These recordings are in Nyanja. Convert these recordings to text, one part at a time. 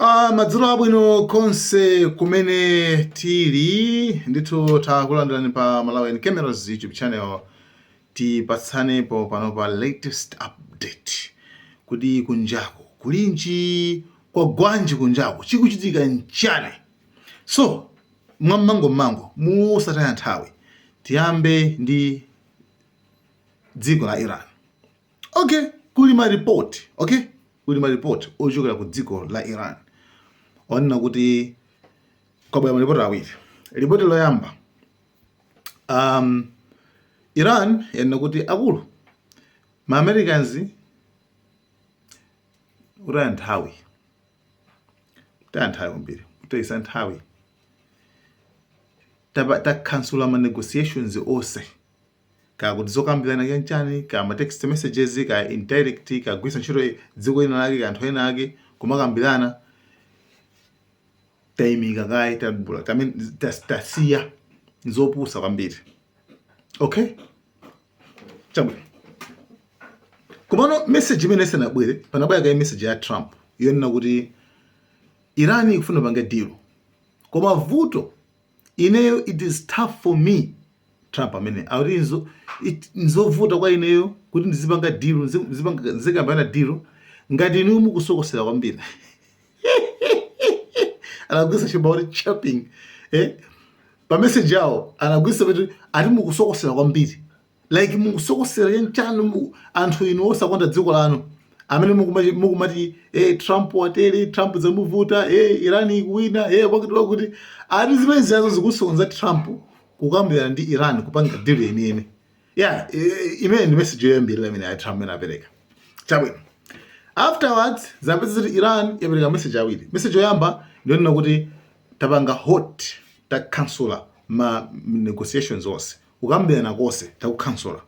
Uh, madzulo abwino konse kumene tili ndithu takulandirani pa Malawian Cameras YouTube channel tipatsanepo pano pa latest update kuti kunjaku kulinji kwa gwanji kunjaku chikuchitika nchani so mwammangummangu mosataya nthawi tiyambe ndi dziko la Iran okay kuli maripoti okay kuli maripoti ochokera ku dziko la iran onena kuti kwabwera maripoti awiri ripoti loyamba um, iran yanena kuti akulu ma americans kutaya nthawi kutaya nthawi kwambiri kutayisa nthawi takhansula ma negotiations onse Kaya kuti zokambirana kaya nchani, kaya ma text messages, kaya indirect, kaya kugwiritsa ntchito dziko lina lake, kaya anthu ena ake kumakambirana, taimika kaye chabe, I mean tas- tasiya nzopusa kwambiri. Okay? Chabwino. Komano message imene isanabwere, panabwera kaye message ya Trump yonena kuti Iran ikufuna kupanga deal. Koma vuto Ineyo it is tough for me Trump amene akuti nzo, it, nzovuta kwa ineyo kuti ndizipanga deal nzi- nzipanga- nzikambana deal ngati inu mukusokosera kwambiri anagwiritsa chapakuti chirping eh? pameseji awo anagwiritsa kuti ati mukusokosera kwambiri like mukusokosera chanchani mu- anthu inu osakonda dziko lanu amene mukuma- mukumati eh, trump watere trump zamuvuta eh, iran ikuwina eh, kwakuti kwakuti ati zimene ziyazo zikusokoneza trump kukambirana ndi iran kupanga deal yeniyeni yeah, eh, eh, imene ndi message yoyambirira imene ya trump imene apereka chabwino afterwards zapeza kuti iran yapereka message awiri message yoyamba ndiyonena kuti tapanga halt takhansula ma negotiations onse kukambirana kose takukhansula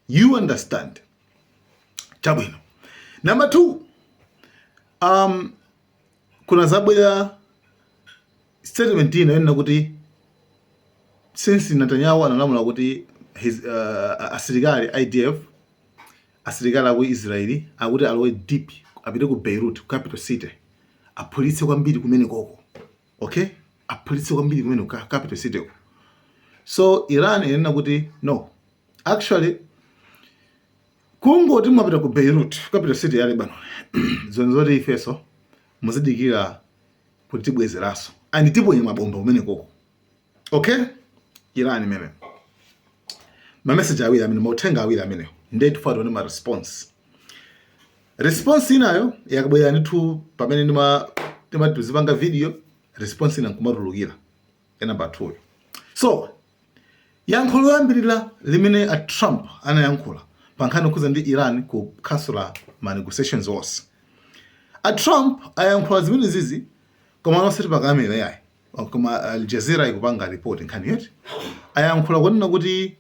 you understand chabwino number two um, kunadzabwera statement ina yonena kuti since Netanyahu analamula kuti his uh, asilikali IDF asilikali aku Israeli akuti alowe deep apite ku Beirut capital city aphulitse kwambiri kumene koko okay aphulitse kwambiri kumene ku capital city ko so iran inena kuti no actually kungoti mwapita ku beirut capital city ya lebanon zoona zoti ifenso muzidikira kuti tibwezeranso and tiponye mabomba kumene koko okay Iran amene mameseji awiri amene mauthenga awiri amenewo ndiye tifuna tione ma response response inayo yakabwera ndithu pamene ndima ndima tizipanga video response ina nkumatulukira ya namba 2 so yankho loyambirira limene a trump anayankhula pa nkhani yokhudza ndi Iran kukhansula ma negotiations onse a trump ayankhula zimenezizi koma anosati pa kamera yayi Oh, koma Al Jazeera ikupanga report nkhani yoti ayankhula kunena kuti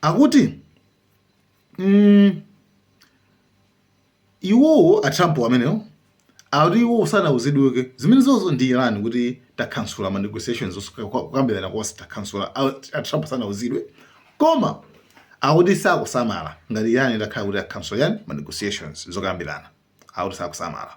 akuti mm, iwowo a Trump amenewo akuti iwowo sanauzidweko zimenezozo ndi Iran kuti takhansula ma negotiations osuka- kwa- kukambirana konse takhansula a a Trump sanauzidwe koma akuti sakusamala ngati Iran itakhala kuti akhansula chani ma negotiations zokambirana akuti sakusamala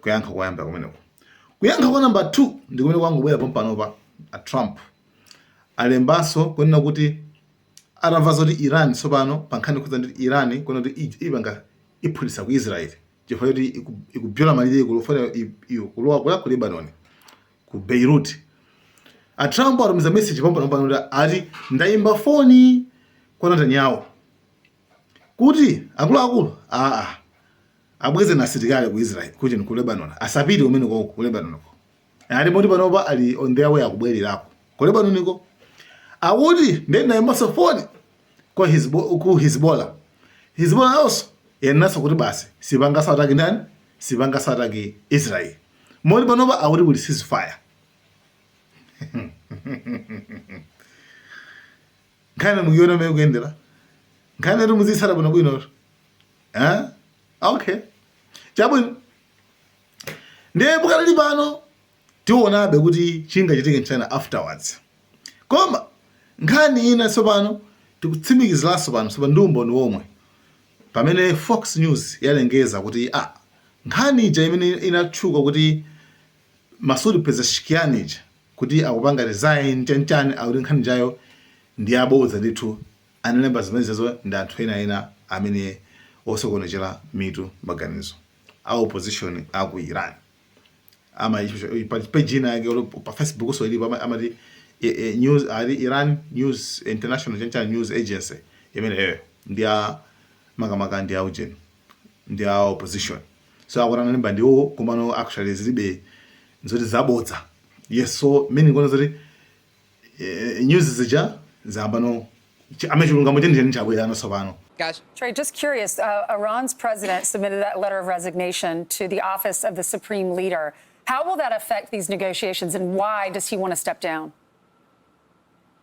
kuyankha koyamba kumeneko kuyankha kwa namba 2 ndi kumene kwangobwera pompanopa a trump alembanso kunena kuti atamva zoti iran tsopano pa nkhani yokhudza ndi iran kunena kuti ij- ipanga iphulitsa ku israel chifukwa choti iku- ikubyola malire kulowera kulowa ku lebanon ku beirut a trump atumiza message pompanopa ati ndayimba foni kwa netanyahu kuti akuluakulu aa abwezeni asilikali ku Israel ujeni ku Lebanon asapite kumene ko ku Lebanon ko ati moti panopa ali on their way akubwererako ku Lebanon ko akuti ndiye ndinaimbanso phone kwa hizbo ku Hezbollah Hezbollah also yanenanso kuti basi sipanganso attack ndani sipanganso attack Israel moti panopa akuti kuli ceasefire nkhani mukuiona mmene ikuyendera nkhani yoti mudzitsata bwinobwinotu eh? okay chabwino ndiye pakali pano tiwonabe kuti chingachitike nchani afterwards koma nkhani ina tsopano tikutsimikiziranso pano tsopano ndi umboni womwe pamene fox news yalengeza kuti ah, nkhani ija imene inatchuka kuti Masoud Pezeshkian uja kuti akupanga resign chanchani akuti nkhani ijayo ndi yabodza ndithu analemba zimenezozo ndi anthu ena ena amene osokonezera mitu maganizo a opposition a ku Iran pa page ina yake pa facebook so ilipo amati news ali Iran news international chanchani news agency imeneyoyo ndi ya makamaka ndi ya ujeni ndi ya opposition so akuti analemba ndi iwo komano actually zilibe zoti zabodza yes so mene ndikuona zoti eh, news zija zayambano chi- amene chilungamo chenicheni chabwera ano tsopano Cash. Trey, just curious, uh, Iran's president submitted that letter of resignation to the office of the supreme leader. How will that affect these negotiations, and why does he want to step down?